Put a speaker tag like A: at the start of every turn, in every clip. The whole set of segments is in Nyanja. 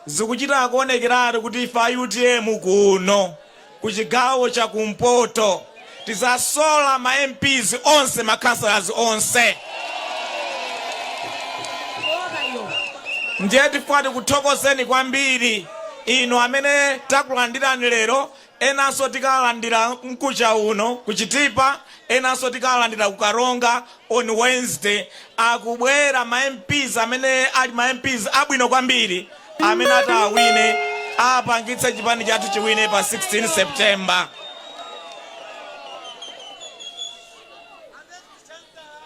A: Zikuchita kuonekeratu kuti ife a utm kuno ku chigawo cha kumpoto tizasola ma MPs onse ma councillors onse ndiye tifuna tikuthokozeni kwambiri inu amene takulandirani lero Enanso tikalandira mkucha uno ku Chitipa, enanso tikalandira ku Karonga on Wednesday. Akubwera ma MPs amene ali ma MPs abwino kwambiri amene atawine apangitse chipani chathu chiwine pa 16 September.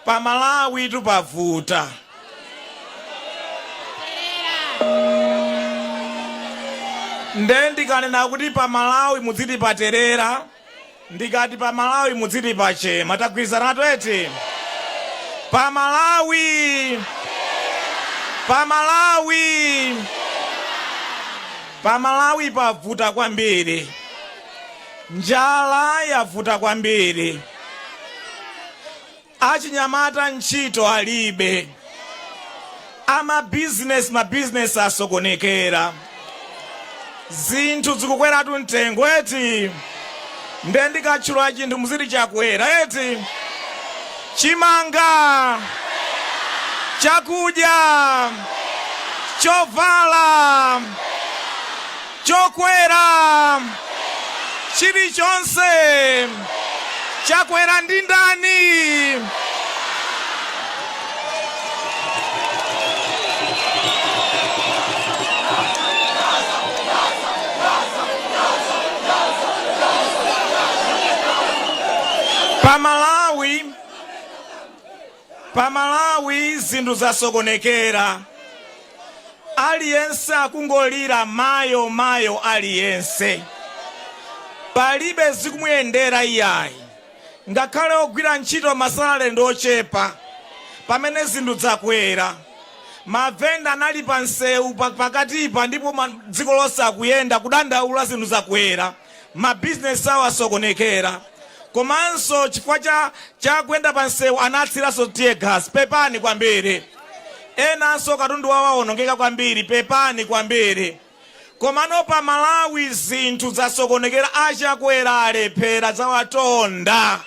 A: Pa Malawitu pavuta. Nde ndikanena kuti pa Malawi mudziti paterera, ndikati pa Malawi mudziti pachema. Tagwirizanatu eti? Pa Malawi! Pa Malawi! Pa Malawi pavuta kwambiri. Njala yavuta kwambiri. Achinyamata ntchito alibe. Amabizinesi mabizinesi asokonekera. Zinthu zikukweratu mtengo eti. Nde ndikatchula chinthu muziti chakwera eti. Chimanga, chakudya, chovala. chokwera chilichonse chakwera. Ndi ndani? Pa Malawi Pa Malawi zinthu zasokonekera aliyense akungolira mayo mayo aliyense palibe zikumuyendera iyayi ngakhale ogwira ntchito ma salary ndi ochepa pamene zinthu zakwera mavenda anali pa nseu pakatipa ndipo dziko lonse akuyenda kudandaula zinthu zakwera. ma business awo asokonekera komanso chifukwa cha kuyenda pa nsewu anatsiranso tear gas pepani kwambiri enanso katundu wawo wawonongeka kwambiri pepani kwambiri komano pa malawi zinthu zasokonekera a Chakwera alephera zawatonda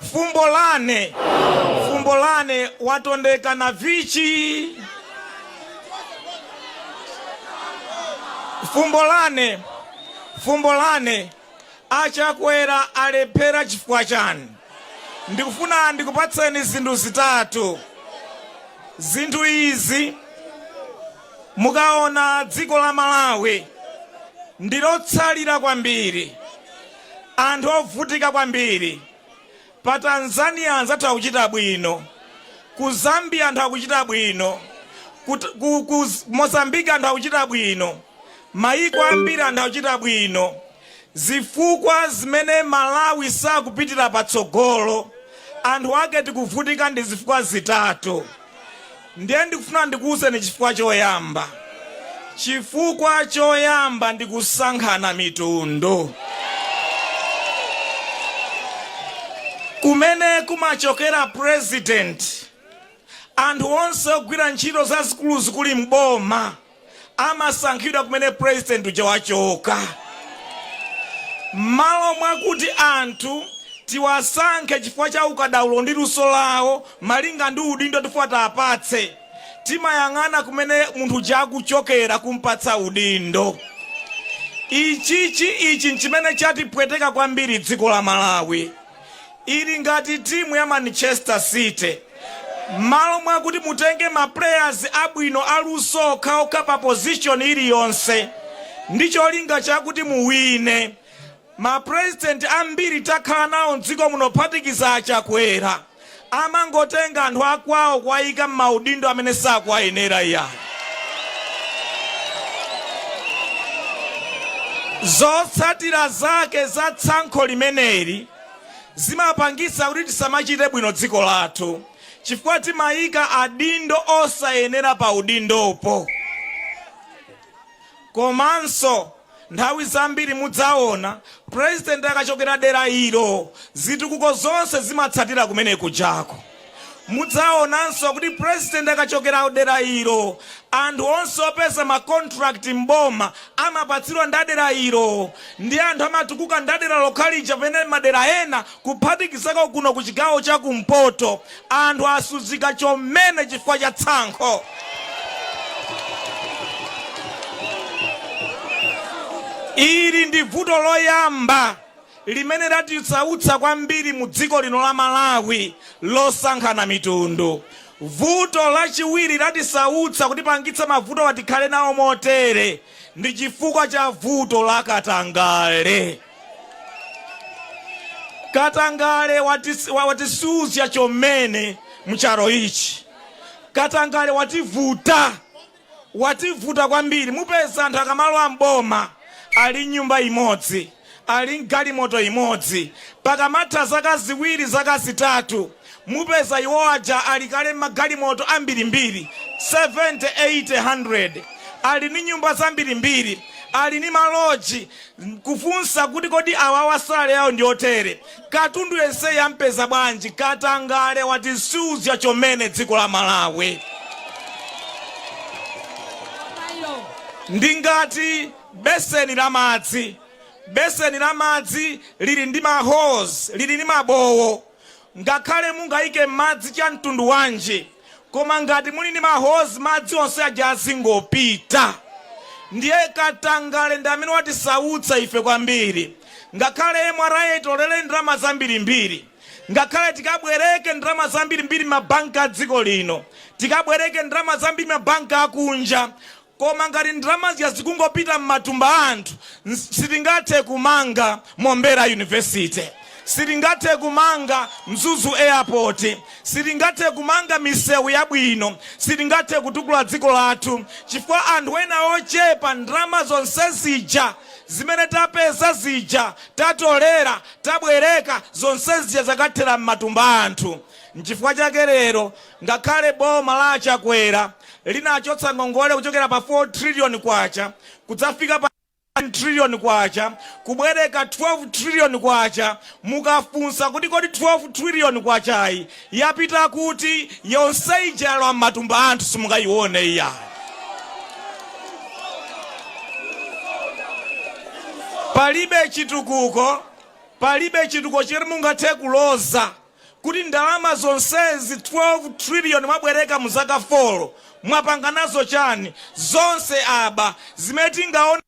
A: Fumbo lane, fumbo lane watondeka na vichi? Fumbo lane, fumbo lane a Chakwera alephera chifukwa chani? Ndikufuna ndikupatseni zinthu zitatu. Zinthu izi mukaona dziko la Malawi ndilotsalira kwambiri. Anthu ovutika kwambiri. Pa Tanzania anzathu akuchita bwino. Ku Zambia anthu akuchita bwino. Ku, ku, ku Mozambique anthu akuchita bwino. Mayiko ambiri anthu akuchita bwino. Zifukwa zimene Malawi sakupitira patsogolo, anthu ake tikuvutika ndi zifukwa zitatu. ndiye ndikufuna ndikuwuzeni chifukwa choyamba chifukwa choyamba ndi kusankhana mitundu kumene kumachokera president anthu onse ogwira ntchito zazikuluzikulu mboma amasankhidwa kumene president uja wachoka. Mmalo mwakuti anthu tiwasankhe chifukwa cha ukadaulo ndi luso lawo malinga ndi udindo tifuna tiapatse, timayang'ana kumene munthu uja akuchokera kumpatsa udindo. Ichi chi ichi nchimene chatipweteka kwambiri dziko la Malawi. Ili ngati timu ya Manchester city mmalo mwakuti mutenge ma players abwino aluso okhaokha pa position iliyonse ndi cholinga chakuti muwine. Ma president ambiri takhala nawo mdziko muno kuphatikiza a Chakwera amangotenga anthu akwawo kuwayika mmaudindo amene sakuwayenera iyayi. Zotsatira zake za tsankho limeneli. zimapangisa kuti tisamachite bwino dziko lathu chifukwa timayika adindo osayenera pa udindopo. Komanso nthawi zambiri mudzaona president akachokera dera ilo zitukuko zonse zimatsatira kumene kujako. Mudzaonanso kuti president akachokera dera ilo, anthu onse opeza ma contract m'boma amapatsidwa ndi adera ilo. Ndiye anthu amatukuka ndi adera lokha lija pamene madera ena kuphatikizako kuno ku chigawo cha kumpoto anthu asuzika chomene chifukwa cha tsankho. Ili ndi vuto loyamba. limene latisautsa kwambiri mu dziko lino la Malawi losankhana mitundu. Vuto lachiwiri latisautsa kutipangitsa mavutowa tikhale nawo motere ndi chifukwa cha vuto la katangale. Katangale watis, wa- watisuzya chomene mcharo ichi. Katangale wativuta. wativuta kwambiri mupeza anthu akamalowa m'boma ali ni nyumba imodzi ali ni galimoto imodzi pakamatha zaka ziwiri zaka zitatu mupeza iwo aja ali kale ni magalimoto ambirimbiri 70 80 100 ali ni nyumba zambirimbiri ali ni maloji kufunsa kuti kodi awawa salary yawo ndi yotere Katundu yenseyi ampeza bwanji katangale watisuzya chomene dziko la Malawi ndi ngati beseni la madzi beseni la madzi lili ndi ma holes lili ndi mabowo ngakhale mungaike madzi cha mtundu wanji Koma ngati muli ndi ma holes madzi onse aja azingopita. Ndiye katangale ndi amene watisautsa ife kwambiri. Ngakhale MRA itolere ndalama zambirimbiri, ngakhale tikabwereke ndalama zambirimbiri m'mabanki a dziko lino, tikabwereke ndalama zambiri m'mabanki akunja, Koma ngati ndalama zija zikungopita mmatumba a anthu, sitingathe kumanga Mombera University, sitingathe kumanga Mzuzu Airport, sitingathe kumanga misewu yabwino, sitingathe kutukula dziko lathu chifukwa anthu ena ochepa ndalama zonse zija zimene tapeza zija, tatolera, tabwereka zonse zija zakathera mmatumba a anthu. Nchifukwa chake lero Ngakhale boma la a Chakwera linachotsa ngongole kuchokera pa K4 trillion kudzafika pa K16 trillion, kubwereka K12 trillion, mukafunsa kuti kodi K12 trillion-yi yapita kuti? Yonse ija yalowa m'matumba a anthu simungayione iyayi. Palibe chitukuko, palibe chitukuko chimene mungathe kuloza. kuti ndalama zonsezi 12 trillion mwabwereka mu zaka 4 mwapanga nazo chani? zonse aba zimene tingaone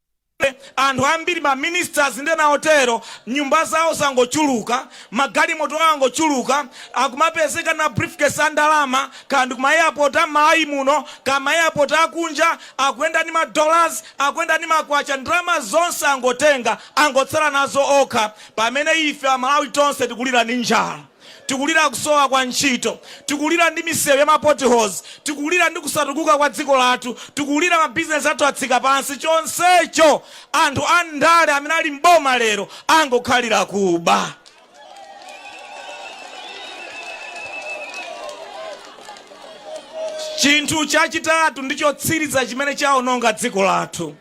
A: anthu ambiri ma ministers ndi ena otero nyumba zawo zangochuluka, magalimoto awo angochuluka, akumapezeka ni ma briefcase a ndalama kaya ndi kuma airport a mmalawi muno kaya ma airport a kunja, akuyenda ndi ma dollars, akuyenda ndi makwacha, ndalama zonse angotenga angotsala nazo okha Pamene ife Amalawi tonse tikulira ndi njala, tikulira kusowa kwa ntchito, tikulira ndi misewu ya ma potholes, tikulira ndi kusatukuka kwa dziko lathu, tikulira ma business athu atsika pansi, chonsecho anthu andale amene ali m'boma lero angokhalira kuba. Chinthu chachitatu ndi chotsiriza chimene chaononga dziko lathu.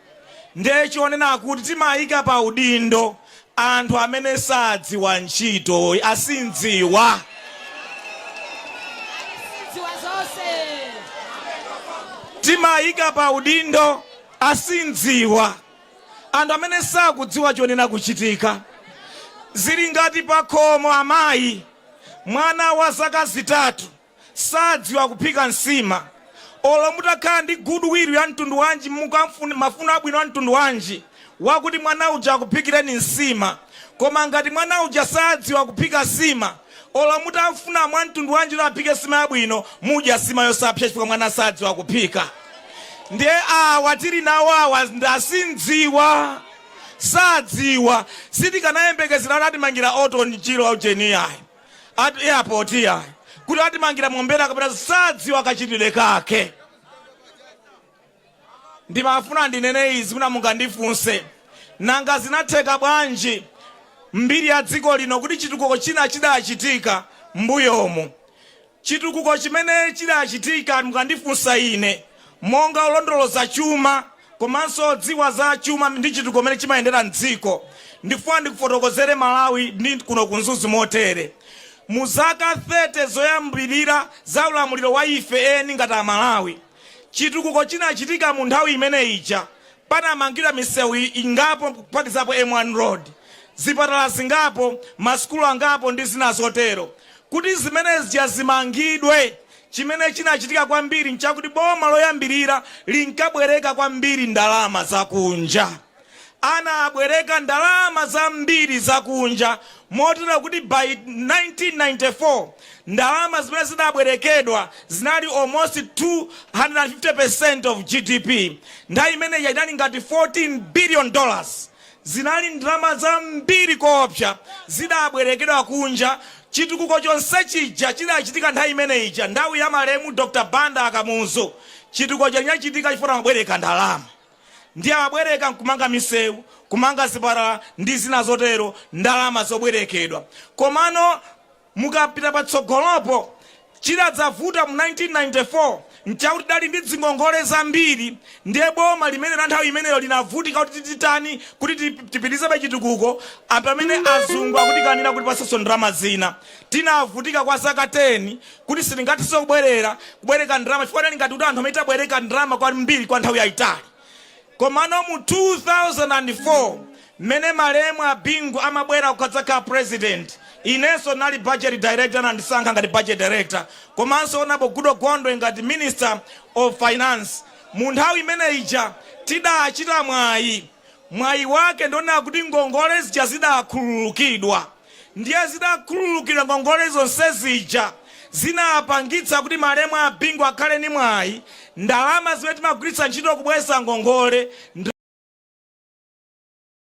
A: ndiye chonena kuti timaika pa udindo anthu amene sadziwa ntchito, asindziwa. Timaika pa udindo asindziwa, anthu amene sakudziwa chonena kuchitika. Zili ngati pakhomo amayi, mwana wa zaka zitatu. sadziwa kuphika nsima. Olo mutakhala ndi good will ya mtundu wanji, mafuno abwino a mtundu wanji, wakuti mwana uja akuphikireni nsima, koma ngati mwana uja sadziwa kuphika nsima, olo mutamfuna mwa mtundu wanji kuti aphike nsima yabwino, mudya nsima yosapsa chifukwa mwana sadziwa kuphika. Ndiye awa tili nawo awa ndi asindziwa, sadziwa. Sitikanayembekezera kuti atimangira Orton Chirwa ujeni iyayi. airport yayi kuti atimangira mombera kapena sadziwa kachitidwe kake ndimafuna ndinene izi mwina mungandifunse nanga zinatheka bwanji m'mbiri ya dziko lino kuti chitukuko china chidachitika mbuyomu Chitukuko chimene chidachitika mukandifunsa ine monga wolondoloza chuma komanso wodziwa za chuma ndi chitukuko mmene chimayendera mdziko ndikufuna ndikufotokozereni aMalawi ndi kuno ku Mzuzu motere. Mu zaka 30 zoyambilira za ulamuliro wa ife eni ngati a Malawi, chitukuko chinachitika mu nthawi imene ija panamangidwa misewu ingapo kuphatikizapo M1 Road, zipatala zingapo, masukulu angapo ndi zina zotero. Kuti zimene zija zimangidwe, chimene chinachitika kwambiri n'chakuti boma loyambirira linkabwereka kwambiri ndalama zakunja. Anabwereka ndalama zambiri zakunja motero kuti by 1994 ndalama zimene zinabwerekedwa zinali almost 250% of GDP. Nthawi imene ija inali ngati 14 billion dollars. Zinali ndalama zambiri koopsa zidabwerekedwa kunja. Chitukuko chonse chija chidachitika nthawi imene ija, nthawi ya malemu Dr. Banda a Kamuzu. Chitukuko chija chinachitika chifukwa amabwereka ndalama. Ndiye amabwereka nkumanga misewu, kumanga zipatala ndi zina zotero, ndalama zobwerekedwa. Komano Mukapita patsogolopo, chidadzavuta mu 1994 nchakuti tidali ndi dzingongole zambiri ndiye boma limene la nthawi imeneyo linavutika kuti titani kuti tipitirizebe chitukuko pamene azungu akutikanira kutipatsanso ndalama zina. Tinavutika kwa zaka 10 kuti sitingathenso kubwere kubwereka ndalama chifukwa tidali ngati kuti anthu amene tabwereka ndalama kwambiri kwa nthawi yaitali. Komano mu 2004 mmene malemu a Bingu amabwera kukadzakhala president inenso ndinali budget director anandisankha ngati budget director komanso honourable Goodall Gondwe ngati minister of finance mu nthawi imene ija tidachita mwayi mwayi wake ndi wonena kuti ngongole zija zidakhululukidwa. Ndiye zitakhululukidwa ngongole zonse zija zinapangitsa kuti malemu a Bingu akhale ndi mwayi ndalama zimene timagwiritsa ntchito kubweza ngongole, ndra.